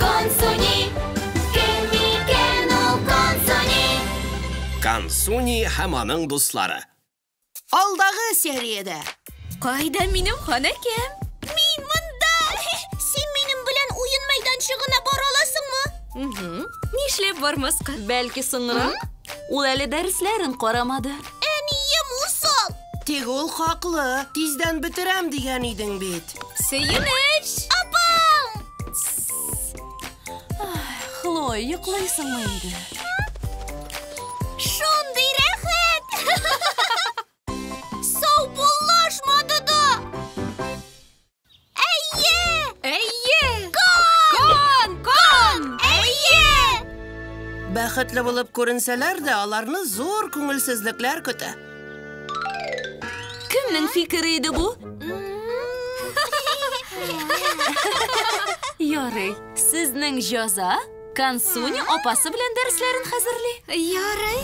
Консуни, кем микән ул Консуни? Консуни һәм аның дуслары. Алдагы сериядә. Кайда минем ханәкәм? Мин монда! Син минем белән уен мәйданчыгына бара аласыңмы? Нишләп бармаска? Бәлки соңрак? Ул әле дәресләрен карамады. Әнием усал! Тик ул хаклы, тиздән бетерәм дигән идең бит. Сөенеч! Апам! Хлоя, йоклыйсыңмы инде? Шундый рәхәт! Саубуллашмады да! Әйе! Әйе! Кон! Кон! Әйе! Бәхетле булып күренсәләр дә, аларны зур күңелсезлекләр көтә. Кемнең фикере иде бу? Ярый, сезнең җаза Кансуни апасы белән дәресләрен хәзерли. Ярый.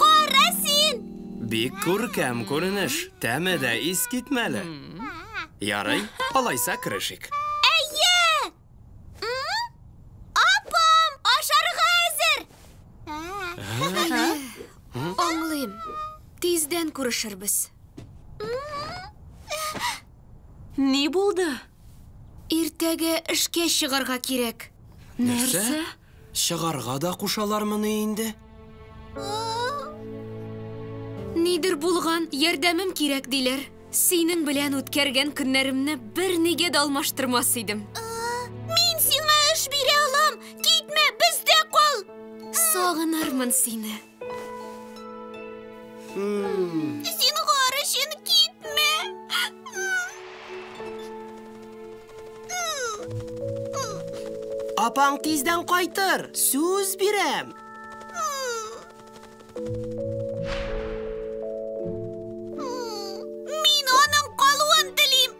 Кара син! Бик күркәм күренеш. Тәме дә искитмәле. Ярый, алайса керешик. Апам, ашарга әзер! Аңлыйм. Тиздән күрешербез. Ни булды? Иртәгә эшкә чыгарга кирәк. Нәрсә? Чыгарга да кушалармыни инде? Нидер булган, ярдәмем кирәк, диләр. Синең белән үткәргән көннәремне бернигә дә алмаштырмас идем. Мин сиңа эш бирә алам! Китмә, бездә кал! Сагынырмын сине. Зинһар өчен китмә. Апаң тиздән кайтыр, сүз бирәм. Мин аның калуын телим.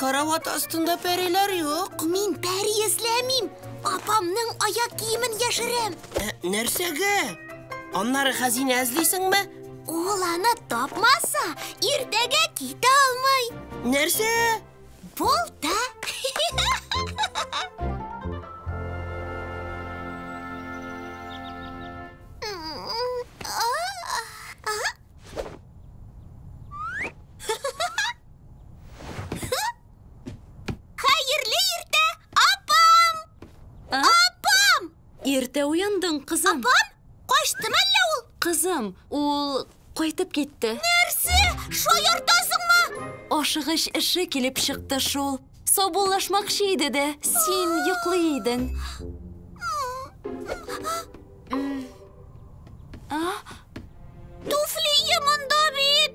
Карават астында пәриләр юк. Мин пәри эзләмим. Апамның аяк киемен яшерәм. Ә, нәрсәгә? Аннары хәзинә эзлисеңме? Ул аны тапмаса, иртәгә китә алмый. Нәрсә? Балта! Хәерле иртә, апам! Апам! Иртә уяндың, кызым. Апам, качтымы әллә ул? Кызым, ул Кайтып китте. Нәрсә? Шаяртасыңмы? Ашыгыч эше килеп чыкты шул. Саубуллашмакчы иде дә, син йоклый идең. Туфли монда бит!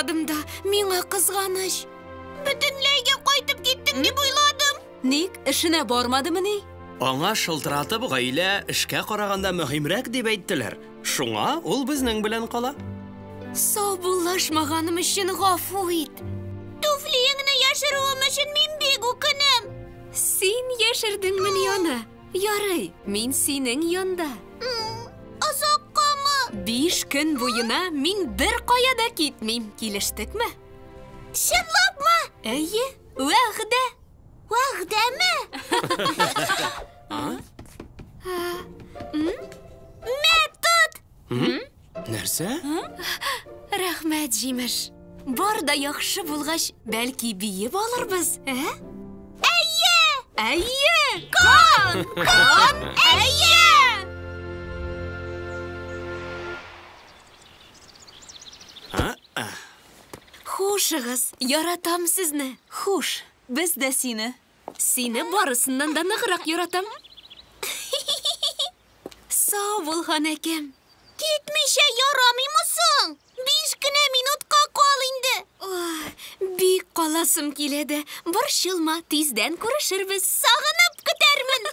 Кызганмадым да, миңа кызганыч. Бөтенләйгә кайтып киттең дип уйладым. Ник, эшенә бармадымыни? Аңа шылтыратып гаилә эшкә караганда мөһимрәк дип әйттеләр. Шуңа ул безнең белән кала. Саубуллашмаганым өчен гафу ит. Туфлиеңне яшерүем өчен мин бик үкенәм. Син яшердеңмени аны? Ярый, мин синең янда. Озаккамы? Биш көн буена мин бер кая да китмим. Килештекме? Чынлапмы? Әйе, вәгъдә. Вәгъдәме? Метод! Нәрсә? Рәхмәт, җимеш. Бар да яхшы булгач, бәлки биеп алырбыз, ә? Әйе! Әйе! Кан! Кан! Әйе! Хушыгыз, яратам сезне. Хуш, без дә сине. Сине барысыннан да ныграк яратам. Сау бул, ханәкем. Китмичә ярамыймы соң? Биш кенә минутка кал инде. Бик каласым килә дә. Борчылма, тиздән күрешербез. Сагынып көтәрмен.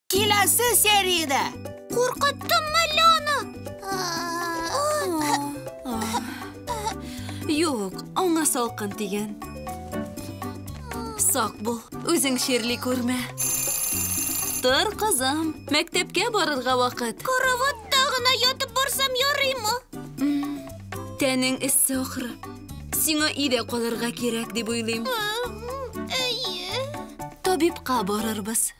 Киләсе сериядә! Куркыттыммы әллә аны? Юк, аңа салкын тигән. Сак бул, үзең чирли күрмә. Тор, кызым, мәктәпкә барырга вакыт. Караватта гына ятып барсам ярыймы? Тәнең эссе ахры. Сиңа өйдә калырга кирәк дип уйлыйм. Әйе. Табибка барырбыз.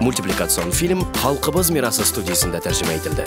Мультипликацион фильм Халкыбыз мирасы студиясендә тәрҗемә ителде.